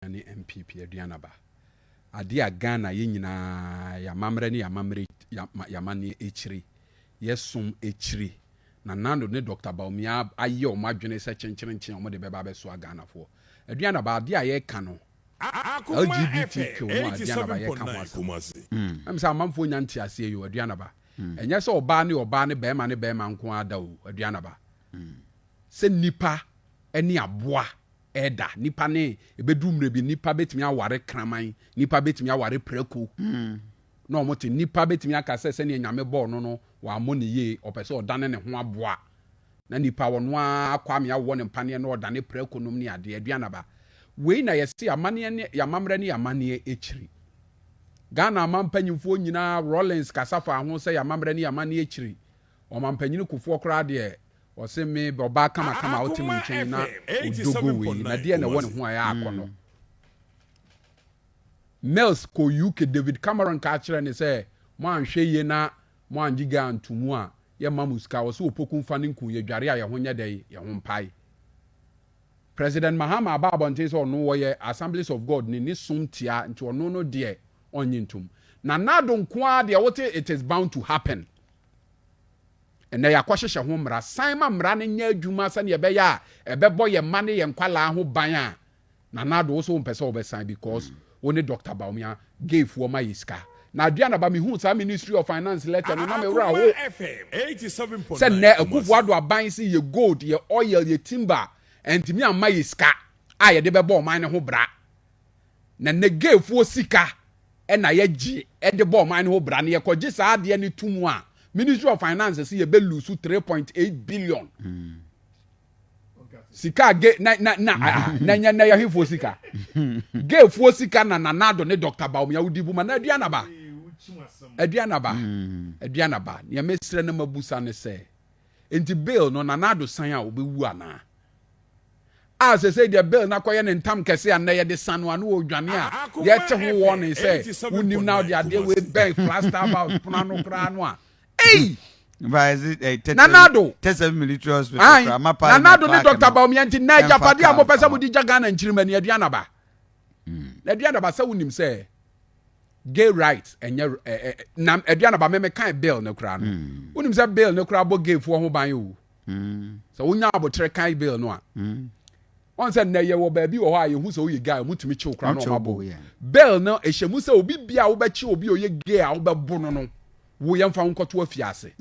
ne NPP aduan aba. Adeɛ a Ghana yɛ nyinaa, yɛn amammerɛ ne yɛn amammerɛ, yɛn amanneɛ akyire, yɛn som akyire, na Nando ne Dɔkta Bawumia ayɛ wɔn adwene sɛ kyenkyerenkyen a wɔde bɛba abɛsoa Ghanafoɔ. Aduan aba, adeɛ a yɛreka no, LGBTQ no a aduan aba yɛreka ho asɛm no, ɛm sɛ amanfoɔ nnya nteaseɛ yi o, aduan aba. Ɛnyɛ sɛ ɔbaa ne ɔbaa ne barima ne barima nko ara da o, aduan aba. Sɛ nnipa ne aboa. ɛda. Nnipa ne, ɛbɛduru mmerɛ bi, nnipa bɛtumi aware kraman, nnipa bɛtumi aware prako, na wɔn te. Nnipa bɛtumi aka sɛ sɛdeɛ Nyame bɔɔ no no, wammɔ no yie, ɔpɛ sɛ ɔdane ne ho aboa. Na nnipa ɔno ara Kwame awɔ no mpaneɛ na ɔdane prako nom ne adeɛ, aduanaba. Wei na yɛse amaneɛ ne, amammerɛ ne amaneɛ akyiri. Ghana amampanyinfoɔ nyinaa, Rawlings kasa faa ho sɛ amammerɛ ne amaneɛ akyiri. Ɔmampanyini Kufuor koraa deɛ, Ɔse me bɛ ɔbaa kamakama a ɔte me nkyɛn yi na odogo wei na deɛ na ɛwɔ ne ho a ɛyɛ akɔ no. Mills kɔ UK David Cameron kaa kyerɛ ne sɛ mo anhwɛ yie na mo angye guy anto mu a yɛ mma mo sika ɔse opoku mfa ne nku yɛ dware a yɛ ho nyɛ dɛ yɛ ho mpae. President Mahama aba abɔnten sɛ ɔno ɔyɛ Assemblies of God ne ne som tia nti ɔno no deɛ ɔnnye ntom. Nana Addo nkoaa deɛ wote it is bound to happen. Ɛnnɛ yɛakɔhyehyɛ ho mmara. San ma mmara no nyɛ adwuma sɛnea ɛbɛyɛ a ɛbɛbɔ yɛn mma ne yɛn nkwadaa ho ban a, Nana Addo, wo nso wompɛ sɛ wobɛsan because wo ne Dɔkta Bawumia gayfoɔ ma yɛ sika. Na adeɛ a na ba mehuu saa Ministry of Finance letter no na me werɛ how sɛ nnɛ Akuffo Addo aban se yɛ gold, yɛ oil, yɛ timber, antumi amma yɛ sika a yɛde bɛbɔ ɔman no ho bra. na Negevfoɔ sika na yɛgye de bɔ ɔman no ho bra, na yɛkɔgye saa adeɛ no to mu a, Ministry of Finance se yɛbɛlusu 3.8 billion. Mm. sika ge na na na ah, na nya na yɛhefoɔ sika gefoɔ sika na na nado ne dr baomia wodi bu ma na adua naba adua naba mm. adua naba nea mesrɛ na mabusa ne sɛ nti bill no na nado san a wobɛwu anaa a sɛsɛ deɛ bill no akɔyɛ ne ntam kɛse a nnɛ yɛde sa no ano wɔ dwane a yɛte ho wɔ ne sɛ wonim na wode adeɛ wei bɛn plaster house pono ano koraa no a ei nanado nanado ne dr baomia nti na agyapade a mopɛ sɛ mode gya ghana nkyirima ni aduanaba na aduanaba sɛ wonim sɛ gay rights ɛnyɛ na aduanaba meme kan bill no koraa no wonim sɛ bill no koraa bɔ gayfoɔ ho ban o sɛ wonya abotere kan bill no a ɔn sɛ nnɛ yɛwɔ baabi wɔ hɔ a yɛhu sɛ woyɛ gay ɔmotumi kyew kora na ɔmabo bill no ɛhyɛ mu sɛ obi bia a wobɛkye obi a ɔyɛ gay a wobɛbo no no wo yɛmfa wo nkɔto afie ase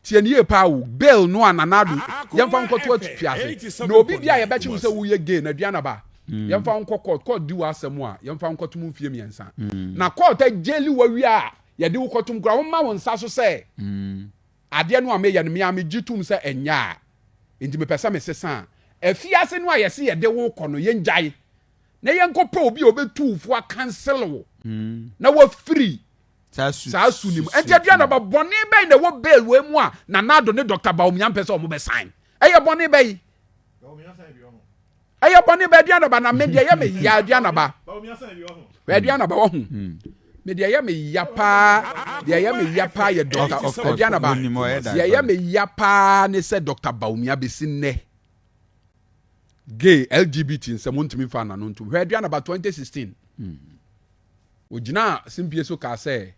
tiɛ ne yie paa o bill no a nanado yɛmfa wo nkɔto afie ase na obi bia a yɛbɛkye wo sɛ woyɛ gay na aduan aba mm. yɛmfa wo nkɔ court court di w'asɛm a yɛmfa wo nkɔto mu mfie mmiɛnsa mm. na court agyeli wawie a Yɛde wo kɔtom koraa, womma wo nsa so sɛ adeɛ no a meyɛ no me ara megye tom sɛ ɛnyɛ a, enti mepɛ sɛ mesesa a. Afiase no a yɛse yɛde wo rekɔ no, yɛngyae na yɛnkɔpɛ obi a ɔbɛtu wo fo akansele wo na woafiri saa su no mu. Enti aduanaba bɔne bɛn na ɛwɔ bail wei mu a Nana Addo ne Dɔkta Bawumia mpɛ sɛ wɔbɛsan? Ɛyɛ bɔne bɛn? ɛyɛ bɔne ba aduanaba na medeɛ yɛ me ya aduanaba ba aduanaba wahu hmm. medeɛ ɛyɛ me ya paa deɛ ɛyɛ me ya paa yɛ dɔkta aduanaba deɛ ɛyɛ me ya paa ne sɛ dɔkta baomia bɛsi nnɛ gay lgbt nsɛm wontumi mfa nano ntom hwɛ aduanaba 2016 ogyinaa simpie so kaa sɛ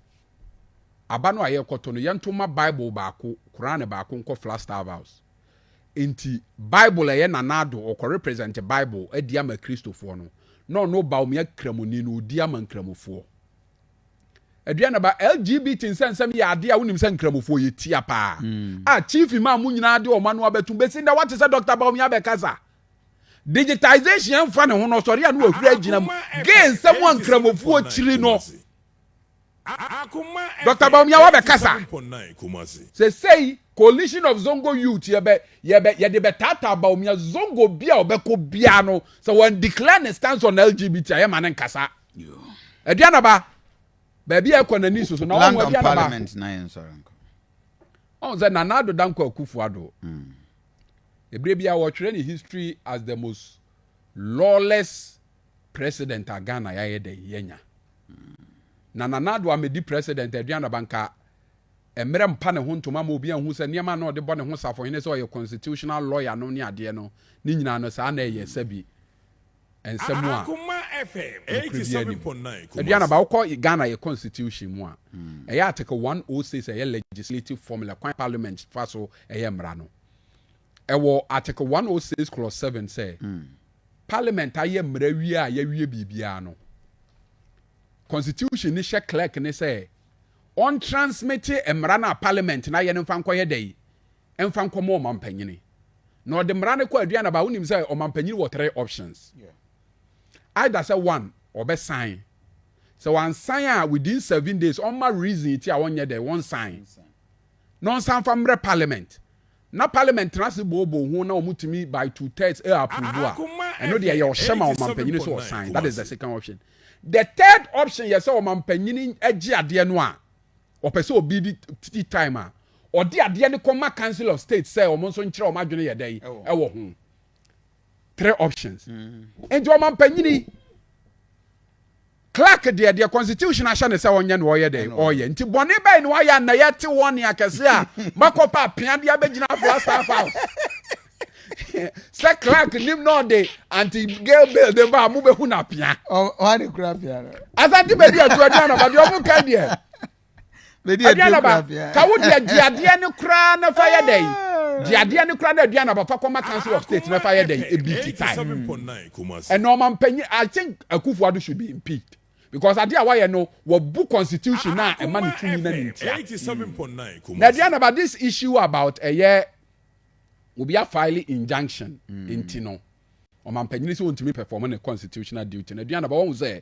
aba no a yɛkɔtɔ no yɛntoma bible baako koran baako nkɔ flastav house Enti Bible a ɛyɛ nanado ɔkɔrepresɛnte Bible adi ama Kristofoɔ no, na ɔno Obaomea Kramoni no ɔdi ama Nkramofoɔ. Aduanaba, LGBT nsɛnsɛm yɛ adeɛ a wonim sɛ Nkramofoɔ yɛ tia paa, a Chief Imam mo nyinaa de wɔn ano abɛto, bɛsi nnɛ woate sɛ Doctor Bawumia bɛkasa. Digitisation mfa ne ho no, ɔsɔre a na wahuri agyina mu. Gay nsɛm a Nkramofoɔ kyiri no. Doctor Bawumia wabɛkasa. Sesei coalition of Zongo youth yɛbɛ yɛbɛ yɛde bɛtaataa Bawumia Zongo bi a ɔbɛkɔ biara no sɛ wɔn declare ne stance on LGBT a yɛma ne nkasa. Aduanaba baabi a ɛkɔ n'ani soso na ɔmo aduanaba. Ɔn sɛ Nana Addo Dankwa Akufo-Addo. Mm. Ebire bi a wɔtwerɛ ne history as the most lawless President a Ghana yɛayɛ dɛn yɛanya? Na Nana Addo ammɛdi President aduan aba nka mmerɛ mpa ne ho ntoma ma obi anhu sɛ nneɛma a na ɔde bɔ ne ho safohene sɛ ɔyɛ constitutional lawyer no ne adeɛ no ne nyinaa no saa na ɛyɛ sɛbi nsɛm a nokorɛ biara nni mu. Aduan aba wokɔ Ghana yɛ constitution mu a ɛyɛ article 106 ɛyɛ legislative formula kwan parliament fa so ɛyɛ mmara no ɛwɔ article 106 clause 7 sɛ Parliament ayɛ mmara wie a yɛawie biribiara no, Constitution no hyɛ clerk ne sɛ ɔntransmite mmara no a Parliament no ayɛ no mfa nkɔyɛ dɛ yi, mfa nkɔma ɔmampanyini. Na ɔde mmara no kɔ Aduanaba a wonim sɛ ɔmampanyini wɔ three options. Either sɛ one, ɔbɛsan. Sɛ wansan a within seven days ɔmma reason ti a ɔnyɛ dɛ wɔnsan. na ɔnsan fa mmerɛ parliament na parliament tena ase booboo ho na wɔn tumi by two thirds ɛ approve a ɛno deɛ yɛ ɔhyɛ ma ɔmampanyini sɛ ɔsan that is the second option the third option yɛ sɛ ɔmampanyini gye adeɛ no a ɔpɛ sɛ obi di tea time a ɔde adeɛ no kɔma council of state sɛ wɔn nso nkyerɛ wɔn adwene yɛ dɛ ɛwɔ ho three options nti ɔmampanyini clark deɛ deɛ constitution ahyɛ ne sɛ ɔnyɛ na ɔyɛ dɛ ɔyɛ nti bɔne bɛyɛ na wayɛ na yɛte wɔn ne akɛse a makɔpa apea de abɛgyina afla staff house sɛ clark nim na ɔde anti gay bill de ba a mobɛhu no apea asante baabi atuaduanaba deɛ ɔmo ka deɛ aduan aba ka wo deɛ gye adeɛ no koraa na fa yɛ dɛn gye adeɛ no koraa na aduan aba fa kɔma council of state na fa yɛ dɛn ebi ti tae ɛna ɔma mpanyin i think akufo ado should be impeached because adeɛ a wayɛ no wɔbu constitution na ɛma ne tumi na ne ntia mm. na aduan aba this issue about ɛyɛ obi afile injunction mm. nti no ɔma mpanyin sɛ ɔntumi perform ne constitutional duty na aduan aba wɔn sɛ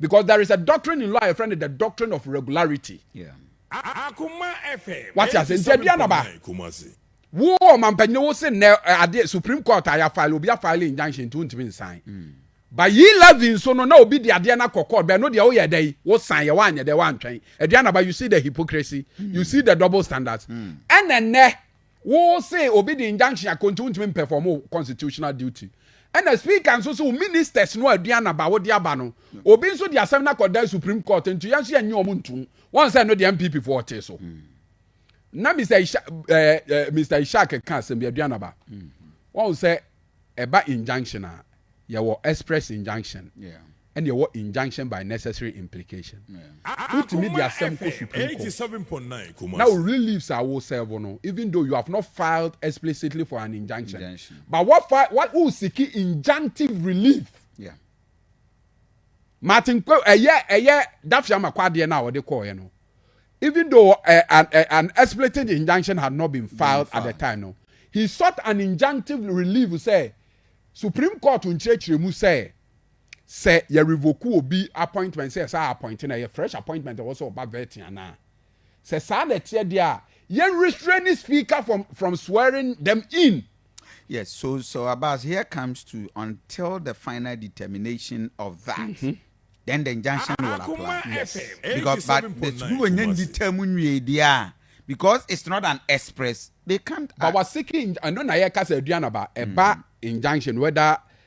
because there is a doctrine in law a yɛfrɛ no the doctrine of regularity wate ase nti aduan naba wo ɔmampanyini wo se nnɛ eh, adeɛ supreme court a yɛafile obi afile injunction nti wontumi nsan hmm. ba yi levy nso no na obi de adeɛ no akɔ court bɛn no deɛ woyɛ dɛ wosan yɛ woanyɛ dɛ woantwɛn aduan naba you see the hypocrisy hmm. you see the double standards hmm. ɛnɛ nnɛ Wo se obi de injunction akɔ nti wontumi mpɛfɔm wo constitutional duty. Ɛna speaker nso se wo ministers no aduan na ba wode aba no. Obi nso de asɛm no akɔda supreme court nti yɛn nso yɛnnye wɔn ntom. Wɔn sɛ ɛno deɛ NPP foɔ te so. Mm. Na Mr. Isha, eh, eh, Mr. Ishak ka asɛm bi aduan na ba. Mm. Wɔn sɛ ɛba injunction a yɛwɔ express injunction. Yeah. ɛna ɛwɔ injunction by necessary implication. Wotumi de asɛm kɔ Supreme Court. Na wo reliefs a wo serve no, even though you have not filed explicitly for an injunction, but what fi what wo seek injunctive relief. Yeah. Martin Kwe ɛyɛ ɛyɛ Dafiama kwadeɛ no a wɔde kɔɔɛ no even though uh, an, uh, an explicit injunction had not been filed at the time no he sought an injunctive relief sɛ supreme court nkyerɛkyerɛ mu sɛ sɛ yɛ revoke obi appointment sɛ yɛsan appoint no a ɛyɛ fresh appointment a ɛwɔ sɛ ɔba vetting anaa? Sɛ saa na ɛteɛ deɛ a, yɛn restraining speaker from, from swearing them in. Yes, so so Abbas, here comes to until the final determination of that. Mm -hmm. Then the injunction will apply. Yes. Because but the school when you determine we there because it's not an express, they can't. But we're seeking. I know na yɛ kasa aduanaba ɛba mm. injunction whether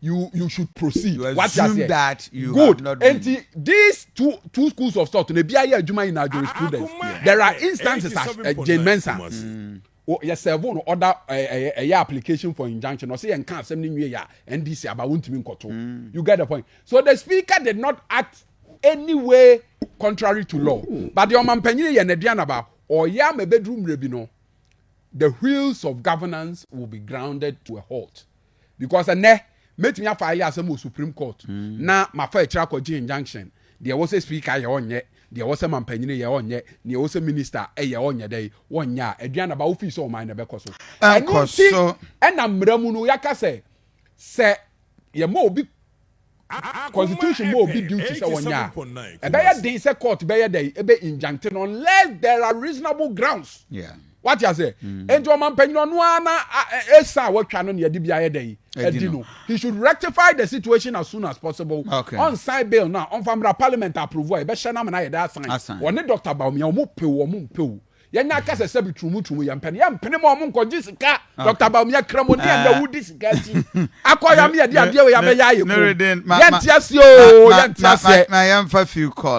you you should proceed You wate assume aseɛ that you good have not been. nti these two two schools of thought na ebi ayɛ adwuma nyinaa jurisprudence Akoma there are ɛyɛ instances as 87.9 uh, Jane Mensah Kumasi. o- yɛ serve no order ɛyɛ ɛyɛ- ɛyɛ application for injunction ɔsɛ yɛn nka asɛm no nwie yɛ a NDC aba wontumi nkɔto you get the point so the speaker did not act any way contrary to law but the ɔmampanyini yɛ n'aduanaba ɔyɛ ama ebeduru mmerɛ bi no the wheels of governance will be grounded to a halt. because ɛnɛ mɛtumi afa ayɛ asɛm wɔ supreme court mm. na mafa akyiri akɔgye injunction deɛ ɛwɔ sɛ speaker yɛ ɔnyɛ deɛ ɛwɔ sɛ mampanyini yɛ ɔnyɛ deɛ ɛwɔ sɛ minister yɛ ɔnyɛ dɛ wɔnyɛ a aduane ba wofii sɛ ɔman na ɛbɛkɔ so ɛno nti ɛna mmara mu no yɛaka sɛ sɛ yɛma obi Constitution ma obi duty sɛ ɔnyɛ a, ɛbɛyɛ den sɛ court bɛyɛ dɛ ebe injuncte no unless there are reasonable grounds. Yeah. wate ase mm. nti ɔmampanyini ɔno ara na ɛsa a watwa no ne yɛde bi ayɛ dɛn adi no he should rectify the situation as soon as possible ɔnsan bill no a ɔmfa mmra parliament approve a yɛbɛhyɛ no amena yɛde asan ɔne dr baomia ɔmo pew ɔmo mpew Yɛnyɛ akasasɛ bi turumuturumu, yɛmpɛ no, yɛmpene ma wɔn nkɔgye sika. Dɔkta Bawumia, Kramoni a nnɛ wodi sika akyi akɔ yame yɛde adeɛ wei abɛyɛ ayɛ komm. Yɛnte aseɛ oo, yɛnte aseɛ.